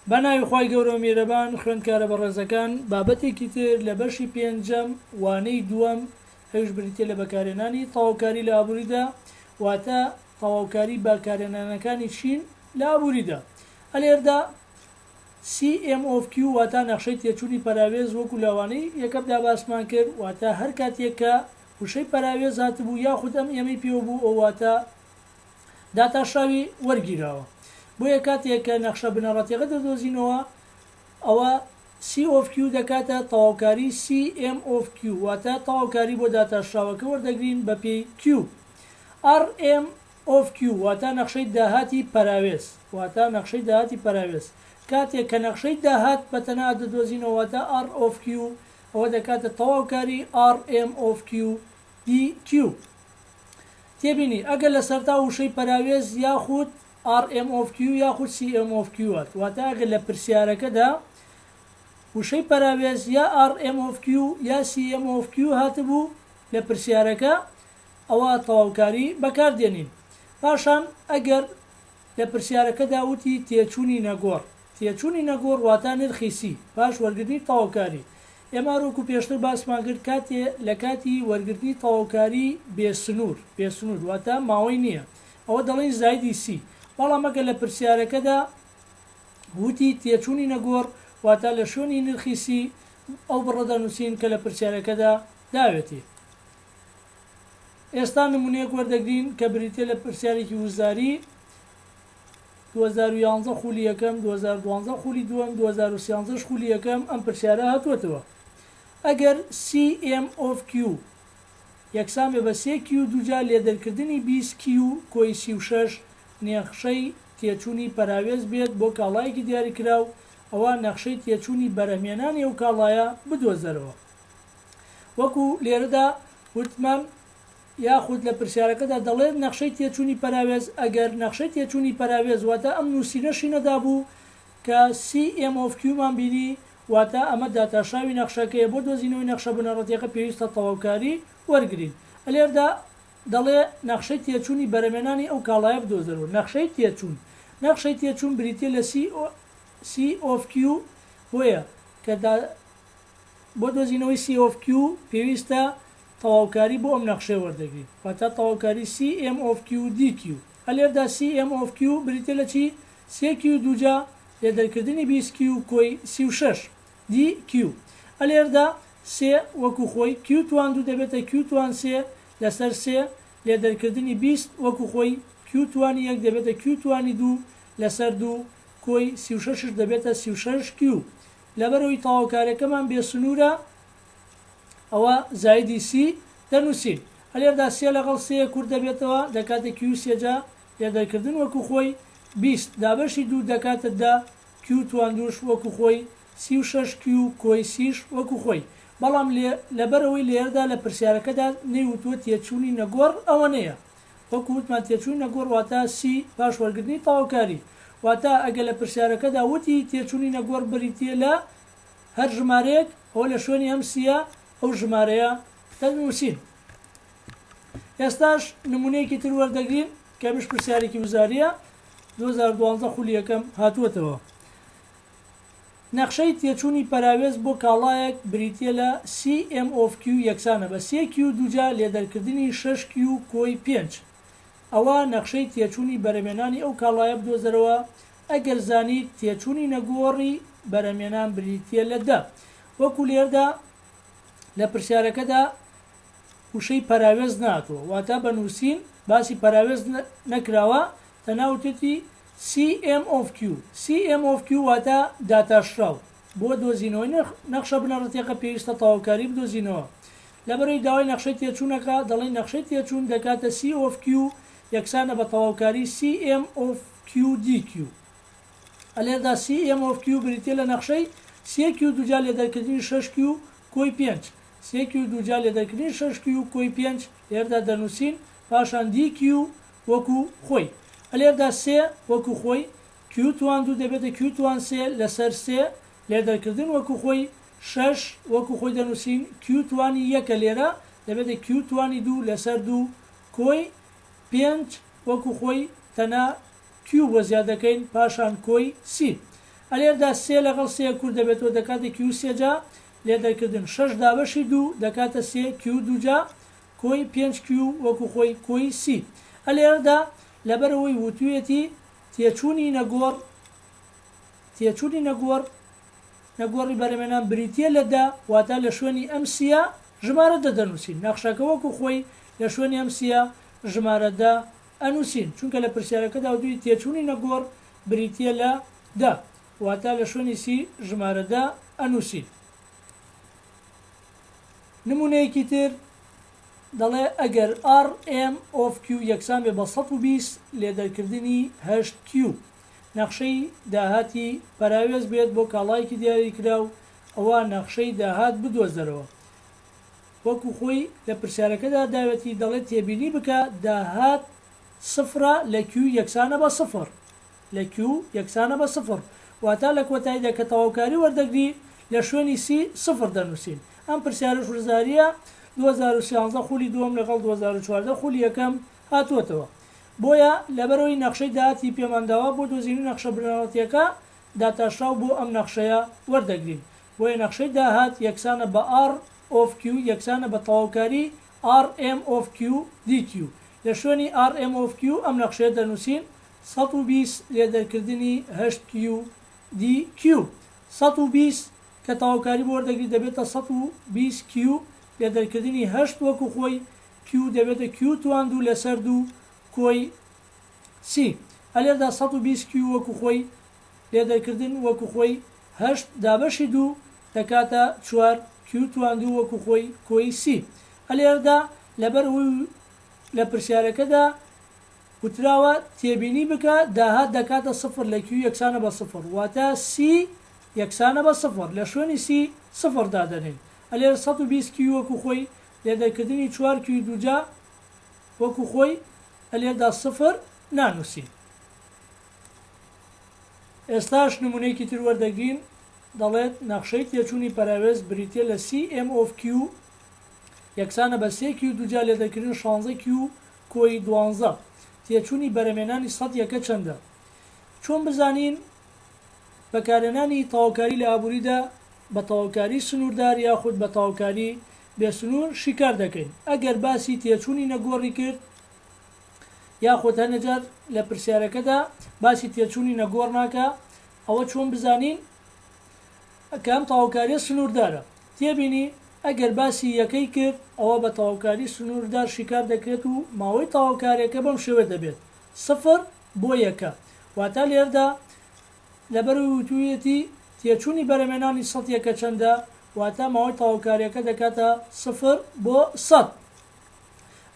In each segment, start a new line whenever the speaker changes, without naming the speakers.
بە ناوی خوای گەورە میرەبان خوێندکارە بەڕێزەکان بابەتێکی تر لە بەشی پێنجەم وانەی دووەم ئەویش بریتە لە بەکارێنانی تەواوکاری لە ئابووریدا واتە تەواوکاری بەکارێنانەکانی چین لە ئابووریدا ئەلێردا CMOQ واتا نەخشەی تێچوونی پەراوێز وەکو لەوانەی یەکەمدا باسمان کرد واتا هەر کاتێک کە وشەی پەراوێز هاتبوو یاخود ئەم ئێمەی پێوە بوو ئەو واتا داتاشراوی وەرگیراوە. بۆیە کاتێک کە نەخشە بنەڕەتیەکە دەدۆزینەوە ئەوە سی ئۆف کیو دەکاتە تەواوکاری سی ئێم ئۆف کیو واتە تەواوکاری بۆ داتاشراوەکە وەردەگرین بە پێی کیو ئەڕ ئێم ئۆف کیو واتە نەخشەی داهاتی پەراوێز واتە نەخشەی داهاتی پەراوێز کاتێک کە نەخشەی داهات بە تەنها دەدۆزینەوە واتە ئەڕ ئۆف کیو ئەوە دەکاتە تەواوکاری ئەڕ ئێم ئۆف کیو دی کیو. تێبینی، ئەگەر لە سەرەتاوە وشەی پەراوێز یاخود RMOFQ یاخود CMOFQ هات، واتە ئەگەر لە پرسیارەکەدا وشەی پەراوێز یا RMOFQ یا CMOFQ هاتبوو لە پرسیارەکە ئەوا تەواوکاری بەکاردێنین. پاشان ئەگەر لە پرسیارەکەدا وتی تێچوونی نەگۆڕ. تێچوونی نەگۆڕ واتا نرخی سی پاش وەرگرتنی تەواوکاری. ئێمار وەکو پێشتر باسمان کرد کاتێ لە کاتی وەرگرتنی تەواوکاری بێ سنوور، بێ سنوور واتا ماوەی نییە، ئەوە دەڵێین زایدی سی. بەڵام ئەگەر لە پرسیارەکەدا وتی تێچوونی نەگۆڕ واتا لە شوێنی نرخی سی ئەو بڕە دەنووسین کە لە پرسیارەکەدا داوێتێ. ئێستا نموونەیەک وەردەگرین کە بریتییە لە پرسیارێکی وزاری، دوو هەزار و یازدە خوولی یەکەم، دوو هەزار و دوازدە خوولی دووەم، دوو هەزار و سیانزە ش خوولی یەکەم ئەم پرسیارە هاتووەتەوە، ئەگەر CM of Q یەکسان بێ بە سێ کیو دووجا لێدەرکردنی بیست کیو کۆی سی و شەش نێخشەی تێچوونی پەراوێز بێت بۆ کاڵایەکی دیاریکراو، ئەوا نەخشەی تێچوونی بەرهمێنانی ئەو کاڵایە بدۆزەرەوە. وەکو لێرەدا وتمان یاخود لە پرسیارەکەدا دەڵێت نەخشەی تێچوونی پەراوێز، ئەگەر نەخشەی تێچوونی پەراوێز واتە ئەم نووسینەشی نەدابوو کە CM of Q مان بینی، واتە ئەمە داتاشاوی نەخشەکەیە، بۆ دۆزینەوەی نەخشە بنەڕەتیەکە پێویستە تەواوکاری وەرگرین. لێردا دەڵێ نەخشەی تێچوونی بەرەمێنانی ئەو کاڵایە بدۆزەرەوە. نەخشەی تێچوون نەخشەی تێچوون بریتیە لە CC of Q بۆیە کە بۆ دۆزینەوەی سی ئۆف کیو پێویستە تەواوکاری بۆ ئەم نەخشەیە وەردەگرین واتە تەواوکاری سی ئێم ئۆف کیو و دی کیو ئەلێردا سی ئێم ئۆف کیو بریتیە لە چی سێ کیو دووجا لێ دەرکردنی بیست کیو کۆی سی و شەش دی کیو ئەلێردا سێ وەکو خۆی کیو توان دوو دەبێتە کیو توان سێ لەسەر سێ لێ دەرکردنی بیست وەکو خۆی کیو توانی یەک دەبێتە کیو توانی دوو لەسەر دوو کۆی سی و شەشش دەبێتە سی و شەش کیو لەبەرئەوەی تەواوکاریەکەمان بێ سنوورە ئەوە زایدی سی دەنووسین ئەلێردا سێ لەگەڵ سێ کورت دەبێتەوە دەکاتە کیو سێ جا لێدەرکردن وەکو خۆی بیست دابەشی دوو دەکاتە دە کیو تواندووش وەکو خۆی سی و شەش کیو کۆی سیش وەکو خۆی بەڵام لێ لەبەرئەوەی لێرەدا لە پرسیارەکەدا نەیوتووە تێچوونی نەگۆڕ ئەوەنەیە وەکو وتمان تێچووینە گۆڕ واتە سی پاش وەرگرتنی تەواوکاری واتە ئەگەر لە پرسیارەکەدا وتی تێچوونینە گۆڕ بریتیە لە هەر ژمارەیەک ئەوە لە شوێنی ئەم سیە ئەو ژمارەیە دەنووسین ئێستاش نمونەیەکی تر وەردەگرین کەمیش پرسیارێکی وزاریە 2012 خولی یەکەم هاتووەتەوە نەخشەی تێچوونی پەراوێز بۆ کاڵایەک بریتییە لە سی ئێم ئۆف کیو یەکسانە بە سێ کیو دووجا لێدەرکردنی شەش کیو کۆی پێنج ئەوا نەخشەی تێچوونی بەرەمێنانی ئەو کاڵایە بدۆزەرەوە ئەگەر زانیت تێچوونی نەگۆڕی بەرەمێنان بریتییە لە دە وەکو لێردا لە پرسیارەکەدا وشەی پەراوێز نەهاتووە واتە بە نووسین باسی پەراوێز نەکراوە تەناوتێتی CMOQ، CMOQ واتە داتاشراو بۆ دۆزینەوەی نرخ، نەخشە بنەڕەتیەکە پێویستە تەواوکاری بدۆزینەوە لەبەرەی داوای نەخشەی تێچوونەکە، دەڵێین نەخشەی تێچوون دەکاتە COFQ یەکسانە بە تەواوکاری CMOQ، DQ لێردا CMOQ بریتیە لە نەخشەی CQ دووجا لێدەرکردنی شەشQ کۆی پێنج، CQ دووجا لێدەرکردنی شەشQ کۆی پێنج لێردا دەنووسین، پاشان DQ، وەکو خۆی. لێردا سێ وەکو خۆی، کیوتوان دوو دەبێتە کیوتوان سێ لەسەر سێ، لێدەرکردن وەکو خۆی، شەش وەکو خۆی دەنووسین، کیوتوانی یەکە لێرە، دەبێتە کیوتوانی دوو لەسەر دوو، کۆی، پێنج وەکو خۆی، تەنها کیو بۆ زیاد دەکەین، پاشان کۆی، سی. لێردا سێ لەگەڵ سێ کورت دەبێتەوە، دەکاتە کیو سێجا، لێدەرکردن، شەش دابەشی دوو دەکاتە سێ، کیو دووجا، کۆی پێنج کیو وەکو خۆی کۆی سی ە لێرەدا لەبەرئەوەی وتویەتی تێچوونی نەگۆڕ تێچوونی نەگۆڕ نەگۆڕی بەرەمێنان بریتیە لە دە واتا لە شوێنی ئەم سی ە ژمارە دە دەنووسین نەخشەکە وەکو خۆی لە شوێنی ئەم سی ە ژمارە دە ئەنووسین چونکە لە پرسیارەکەدا وتوی تێچوونی نەگۆڕ بریتیە لە دە واتا لە شوێنی سی ژمارە دە ئەنووسین. نموونەیەکی تر دەڵێ ئەگەر ئاڕ ئێم ئۆف کیو یەکسان بێ بە سەد و بیست لێ دەرکردنی هەشت کیو نەخشەی داهاتی پەراوێز بێت بۆ کاڵایەکی دیاری کراو ئەوا نەخشەی داهات بدۆزەرەوە وەکو خۆی لە پرسیارەکەدا داوێتی دەڵێ تێبینی بکە داهات سفرە لە کیو یەکسانە بە سفر. لە کیو یەکسانە بە سفر واتا لە کۆتاییدا کە تەواوکاری وەردەگری لە شوێنی سی سفر دەنووسین ئەم پرسیارەش وزاریە دوو هەزار و سیانزە خوولی دووەم لەگەڵ دوو هەزار و چواردە خوولی یەکەم هاتووەتەوە بۆیە لەبەرەوەی نەخشەی داهاتی پێمان داوە بۆ دۆزینی نەخشە بنەڕەتیەکە داتاشراو بۆ ئەم نەخشەیە وەردەگرین بۆیە نەخشەی داهات یەکسانە بە ئاڕ ئۆف کیو یەکسانە بە تەواوکاری ئاڕ ئێم ئۆف کیو دی کیو لە شوێنی ئاڕ ئێم ئۆف کیو ئەم نەخشەیە دەنووسین سەد و بیست لێ دەرکردنی هەشت کیو دی کیو سەد و بیست کە تەواوکاری بۆ وەردەگریت دەبێتە سەد و بیست کیو لێ دەرکردنی هەشت وەکو خۆی کیو دەبێتە کیو توان دوو لەسەر دوو کۆی سی ئە لێردا سەد و بیست کیو وەکو خۆی لێ دەرکردن وەکو خۆی هەشت دابەشی دوو دەکاتە چوار کیو توان دوو وەکو خۆی کۆی سی ئە لێردا لەبەر ئەوەی لە پرسیارەکەدا وتراوە تێبینی بکە داهات دەکاتە سفر لە کیو یەکسانە بە سفر واتە سی یەکسانە بە سفر لە شوێنی سی سفر دادەنێین ئەلێن سەد و بیست کیو وەکو خۆی لێ دەرکردنی چوار کیوی دووجا وەکو خۆی ئەلێردا سفر نانوسین ئێستاش نمونەیەکی تر وەردەگرین دەڵێت نەخشەی تێچوونی پەراوێز بریتیە لە سی ئێم ئۆف کیو یەکسانە بە سێ کیو دووجا لێ دەرکردن شانزە کیو کۆی دوانزە، تێچوونی بەرەمێنانی سەد یەکە چەندە؟ چۆن بزانین بەکارهێنانی تەواوکاری لە ئابووریدا بە تەواوکاری سنووردار یاخود بە تەواوکاری بێ سنوور شیکار دەکەین؟ ئەگەر باسی تێچوونی نەگۆڕی کرد یاخود هەنێجار لە پرسیارەکەدا باسی تێچوونی نەگۆڕ ناکا ئەوە چۆن بزانین کە ئەم تەواوکاریە سنوردارە. تێبینی، ئەگەر باسی یەکەی کرد، ئەوا بە تەواوکاری سنوردار شیکار دەکرێت و ماوەی تەواوکاریەکە بەم شێوە دەبێت، سفر بۆ یەکە. واتە لێردا لەبەرئەوەی وتویەتی تێچونی بەرەمێنانی سەد یەکە چەندە، واتە ماوەی تەواوکاریەکە دەکاتە سفر بۆ سەد.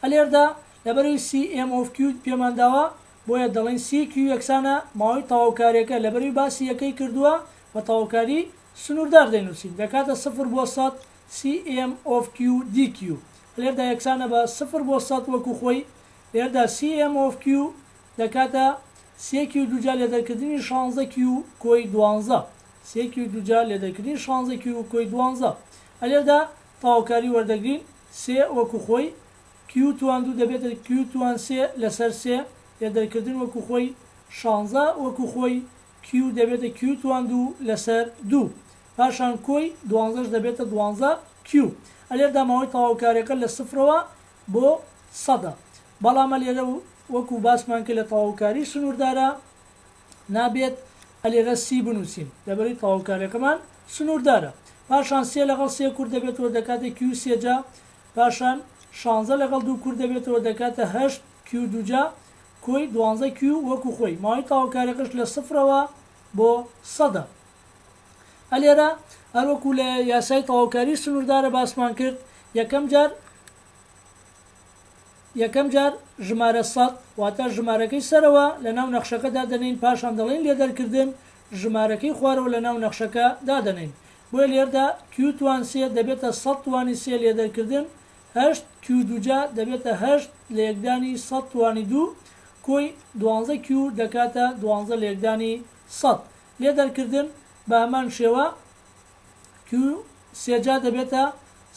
ئەلێردا لەبەرئەوەی سی ئێم ئۆف کیو پێمانداوە، بۆیە دەڵێن سی کیو یەکسانە ماوەی تەواوکاریەکە لەبەرەی باسی یەکەی کردووە بە تەواوکاری سنوردار دەینوسین دەکاتە سفر بۆ سەد سی ئێم ئۆف کیو دی کیو لێردا یەکسانە بە سفر بۆ سەد وەکو خۆی لێردا سی ئێم ئۆف کیو دەکاتە سێ کیو دووجا لێدەرکردنی شانزە کیو کۆی دوانزە سێ کیو دووجا لێدەرکردنی شانزە کیو کۆی دوانزە ئەلێردا تەواوکاری وەردەگرین سێ وەکو خۆی کیو توان دوو دەبێتە کیو توان سێ لەسەر سێ یە دەرکردن وەکو خۆی شانزە وەکو خۆی کیو دەبێتە کیو توان دوو لەسەر دوو پاشان کۆی دوانزەش دەبێتە دوانزە کیو ئەلێردا ماوەی تەواوکاریەکە لە سفرەوە بۆ سەدە بەڵام ئەلێرە وەکو باسمان کرد لە تەواوکاری سنوردارە نابێت ئەلێرە سی بنوسین لەبەرەی تەواوکاریەکەمان سنوردارە پاشان سێ لەگەڵ سێ کورت دەبێتەوە دەکاتە کیو سێ جا پاشان شانزە لەگەڵ دوو کورد دەبێتەوە دەکاتە هەشت کیو دووجا کۆی دوانزە کیو وەکو خۆی ماوەی تەواوکاریەکەش لە سفرەوە بۆ سەدە ئە لێرە هەروەکو لە یاسای تەواوکاری سنووردارە باسمان کرد یەکەم جار یەکەم جار ژمارە سەد واتە ژمارەکەی سەرەوە لە ناو نەخشەکە دادەنین پاشان دەڵێن لێ دەرکردن ژمارەکەی خوارەوە لە ناو نەخشەکە دادەنین بۆیە لێردا کیو توان سێ دەبێتە سەد توانی سێ لێدەرکردن هەشت کیو دووجا دەبێتە هەشت لەیەکدانی سەد توانی دوو کۆی دوانزە کیو دەکاتە دوانزە لەیەکدانی سەد لێدەرکردن بەهەمان شێوە کیو سێجا دەبێتە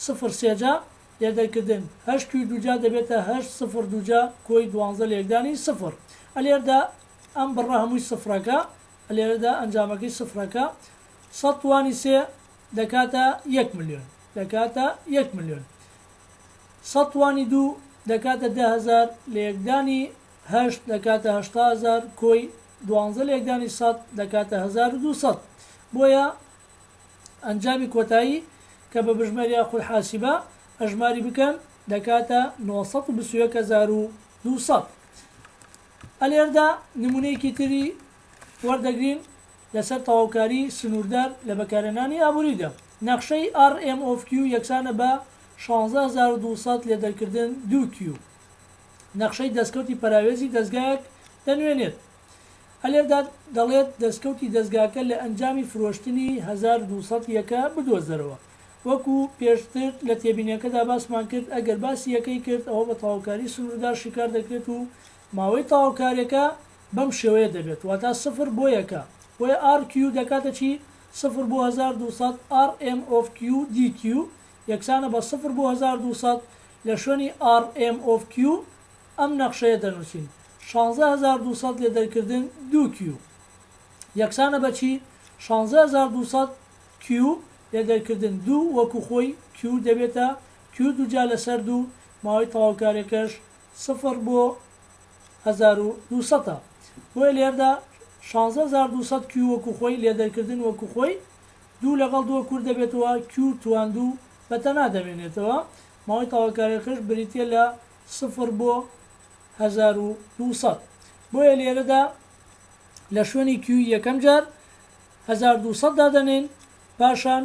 سفر سێجا لێدەرکردن هەشت کیو دووجا دەبێتە هەشت سفر دووجا کۆی دوانزە لەیەکدانی سفر ئەلێردا ئەم بڕە هەمووی سفرەکە ئەلێرەدا ئەنجامەکەی سفرەکە سەد توانی سێ دەکاتە یەک ملیۆن. دەکاتە یەک ملیۆن. سەد توانی دوو دەکاتە دە هەزار. لەیەکدانی هەشت دەکاتە هەشتا هەزار کۆی. دوانزە لەیەکدانی سەد دەکاتە هەزار و دوو سەد. بۆیە ئەنجامی کۆتایی کە بە بژمێریا خول حاسیبە ئەژماری بکەن دەکاتە نۆ سەد و بیست و یەک هەزار و دوو سەد. ئەلێردا نمونەیەکی تری وەردەگرین لەسەر تەواوکاری سنووردار لە بەکارهێنانی ئابووریدا. نەخشەی RMOFQ یەکسانە بە شانزە هەزار و دوو سەد لێ دەرکردن دوو Q. نەخشەی دەستکەوتی پەراوێزی دەزگایەک دەنوێنێت. ئەلێردا دەڵێت دەستکەوتی دەزگاکە لە ئەنجامی فرۆشتنی هەزار و دوو سەد یەکە بدۆزەرەوە. وەکو پێشتر لە تێبینیەکەدا باسمان کرد ئەگەر باسی یەکەی کرد ئەوە بە تەواوکاری سنووردار شیکار دەکرێت و ماوەی تەواوکاریەکە بەم شێوەیە دەبێت واتا سفر بۆ یەکە بۆیە ئاڕ کیو دەکاتە چی؟ سفر بۆ هەزار دوو سەد ئاڕ ئێم ئۆف کیو دی کیو یەکسانە بە سفر بۆ هەزار دوو سەد لە شوێنی ئاڕ ئێم ئۆف کیو ئەم نەخشەیە دەنووسین شانزە هەزار دوو سەد لێ دەرکردن دوو کیو یەکسانە بە چی؟ شانزە هەزار دوو سەد کیو لێ دەرکردن دوو وەکو خۆی کیو دەبێتە کیو دووجا لەسەر دوو ماوەی تەواوکاریەکەش سفر بۆ هەزار و دوو سەد ە بۆیە لێردا شانزە هەزار دوو سەد کیو وەکو خۆی لێدەرکردن وەکو خۆی دوو لەگەڵ دووە کورت دەبێتەوە کیو توان دوو بەتەنها دەمێنێتەوە ماوەی تاوەکاریەکەش بریتیە لە سفر بۆ هەزار و دوو سەد بۆیە لێرەدا لە شوێنی کیوی یەکەم جار هەزار دوو سەد دادەنێین پاشان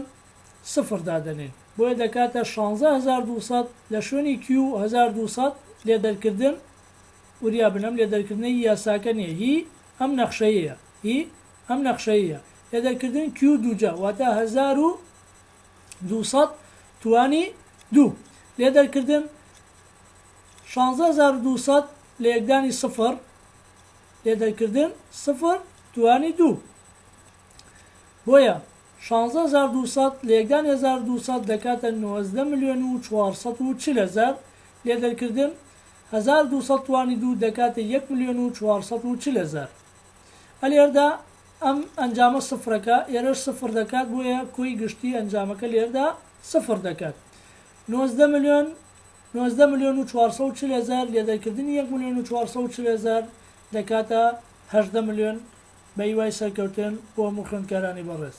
سفر دادەنێ بۆیە دەکاتە شانزە هەزار دوو سەد لە شوێنی کیو هەزار دوو سەد لێ دەرکردن وریا بن ئەم لێ دەرکردنە هی یاساکە نیە هی ئەم نەخشەیەیە هی ئەم نەخشەیەیە لێ دەرکردن کیو دووجا واتە هەزار و دوو سەد توانی دوو لێ دەرکردن شانزە هەزار و دوو سەد لە یەکدانی سفر لێ دەرکردن سفر توانی دوو بۆیە شانزە هەزار دوو سەد، لێکدانی هەزار و دوو سەد دەکاتە نۆزدە ملیۆن و چوار سەد و چل هەزار، لێ دەرکردن، هەزار و دوو سەد توانی دوو دەکاتە یەک ملیۆن و چوار سەد و چل هەزار. ئە لێردا ئەم ئەنجامە سفرەکە، ئێرەش سفر دەکات، بۆیە کۆی گشتی ئەنجامەکە لێردا سفر دەکات. نۆزدە ملیۆن، نۆزدە ملیۆن و چوار سەد و چل هەزار، لێ دەرکردنی یەک ملیۆن و چوار سەد و چل هەزار، دەکاتە هەژدە ملیۆن بەهیوای سەرکەوتن بۆ هەموو خوێندکارانی بەڕێز.